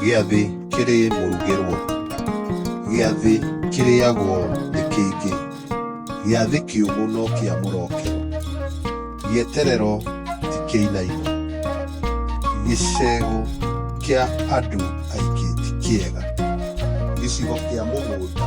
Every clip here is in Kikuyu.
Gĩathĩ kĩrĩ mũrugĩrwo. Gĩathĩ kĩrĩagwo nĩ kĩngĩ. Gĩathĩ kĩũmũ no kĩa mũrokero. Gĩeterero ti kĩinaino. Gĩcegũ kĩa andũ aingĩ ti kĩega. Gĩcigo kĩa mũgũnda.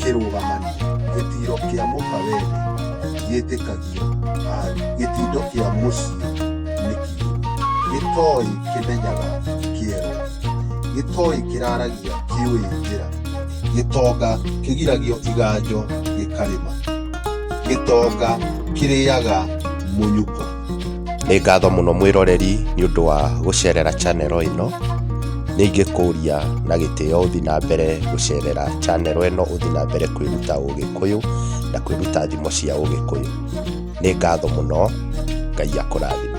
kĩrũgamani gĩtiro kĩa mũkawere gĩtĩkagio aru gĩtindo kĩa mũciĩ nĩ kiru gĩtoĩ kĩmenyaga kĩero gĩtoĩ kĩraragia kĩũĩ njĩra gĩtonga kĩgiragio iganjo gĩkarĩma gĩtonga kĩrĩaga mũnyuko nĩ ngatho mũno mwĩroreri nĩ ũndũ wa gũcerera channel ĩno nĩ ingĩkũria na gĩtĩo ũthi na mbere gũcerera channel ĩno ũthi na mbere kwĩruta ũgĩkũyũ na kwĩruta thimo cia ũgĩkũyũ nĩ ngatho mũno ngai akũrathime